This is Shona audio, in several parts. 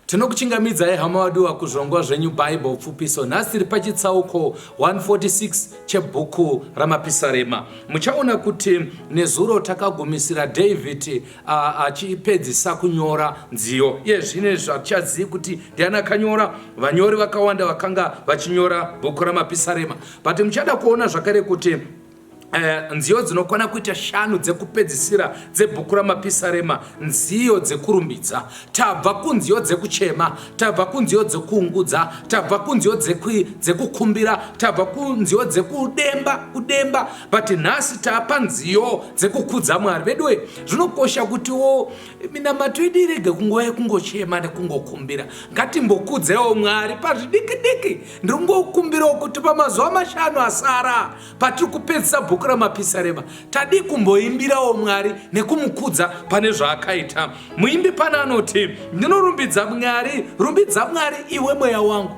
Tinokuchingamidzai hama wadiwa kuzvongwa zvenyu Bible pfupiso. Nhasi tiri pachitsauko 146 chebhuku raMapisarema. Muchaona kuti nezuro takagumisira David achipedzisa kunyora nziyo. Iye zvine zvatichazivi kuti ndiani akanyora. Vanyori vakawanda vakanga vachinyora bhuku raMapisarema. But muchada kuona zvakare kuti Uh, nziyo dzinokwana kuita shanu dzekupedzisira dzebhuku ramapisarema nziyo dzekurumbidza tabva kunziyo dzekuchema tabva kunziyo dzekuungudza tabva kunziyo dzekukumbira tabva kunziyo dzekudemba kudemba but nhasi tapa nziyo dzekukudza mwari veduwe zvinokosha kutiwo minamato yedu irege kunguva yekungochema nekungokumbira ngatimbokudzewo mwari pazvidikidiki ndiri ngokumbirawo kuti pamazuva mashanu asara Patiri kupedzisa bhuku raMapisarema, tadii kumboimbirawo Mwari nekumukudza pane zvaakaita? Muimbi pana anoti, Ndinorumbidza Mwari, rumbidza Mwari iwe mweya wangu.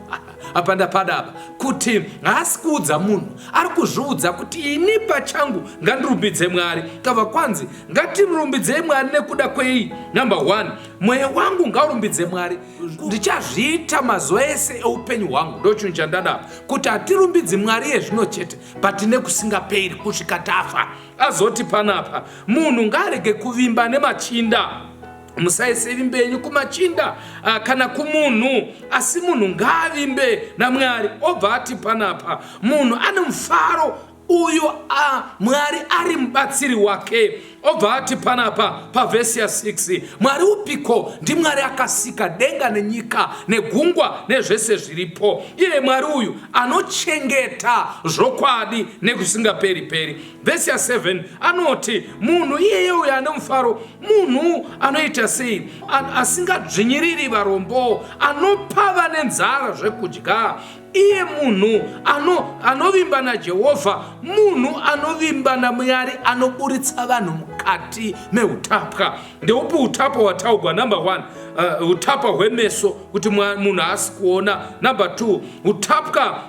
apa ndapada apa kuti haasi kuudza munhu ari kuzviudza kuti ini pachangu ngandirumbidze mwari kava kwanzi ngatirumbidzei mwari nekuda kwei number one mweya wangu ngaurumbidze mwari ndichazviita mazuva ese eupenyu hwangu ndochinhu chandada kuti hatirumbidzi mwari yezvino chete but nekusingaperi kusvika tafa azoti panapa munhu ngaarege kuvimba nemachinda musaise vimbe yenyu kumachinda ah, kana kumunhu asi munhu ngaavimbe namwari obva ati panapa munhu ane mufaro uyo a mwari ari mubatsiri wake obva ati panapa pavhesi ya 6 mwari upiko ndimwari akasika denga nenyika negungwa nezvese zviripo iye mwari uyu anochengeta zvokwadi nekusingaperi peri vhesi ya 7 anoti munhu iyeye uyo ane mufaro munhu anoita sei asingadzvinyiriri varombo anopa vane nzara zvekudya iye munhu ano anovimba najehovha munhu anovimba namwari anoburitsa vanhu mukati meutapwa ndeupi utapwa wataugwa number one uh, utapwa hwemeso kuti munhu haasi kuona number two utapwa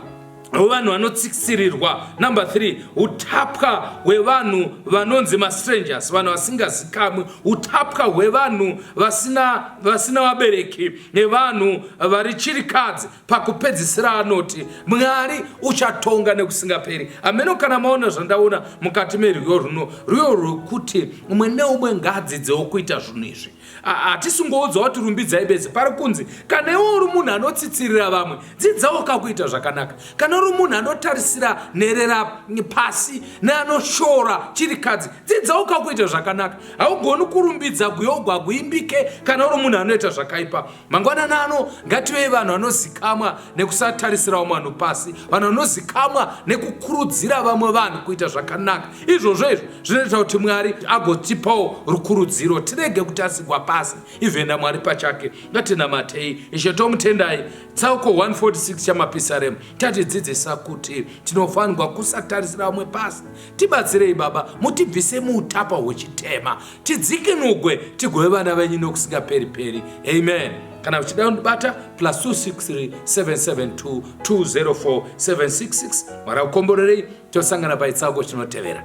hwevanhu vanotsiksirirwa number 3 utapwa hwevanhu vanonzi mastrangers vanhu vasingazikamwi utapwa hwevanhu vasina vasina vabereki nevanhu vari chirikadzi Pakupedzisira anoti, Mwari uchatonga nekusingaperi. Ameno kana maona zvandaona mukati merwiyo runo, rwiyo rwekuti umwe neumwe ngaadzidzewo kuita zvinhu izvi. Hatisingoudzwa kuti rumbidzai bedzi, pari kunzi kana iwe uri munhu anotsitsirira vamwe, dzidzawo kakuita zvakanaka. Kana uri munhu anotarisira nherera pasi neanoshora chirikadzi, dzidzawo kakuita zvakanaka. Haugoni kurumbidza guyo ugwa guimbike kana uri munhu anoita zvakaipa. Mangwanana ano ngativei vanhu vanozikamwa nekusatarisira vamwe vanhu pasi, vanhu vanozikamwa nekukurudzira vamwe vanhu kuita zvakanaka. Izvozvo izvo zvinoita kuti Mwari agotipawo rukurudziro, tirege kutasigwa pasi even naMwari pachake. Ngatinamatei Ishe tomutendai. Tsauko 146 chamapisaremu chatidzidzisa kuti tinofanirwa kusatarisira vamwe pasi Tibatsirei Baba, mutibvise muutapa hwechitema, tidzikinugwe tigove vana venyu nokusingaperi-peri. Amen. Kana uchida kundibata, plus 2637720476. Mwari akukomborerei, tosangana paitsango chinotevera.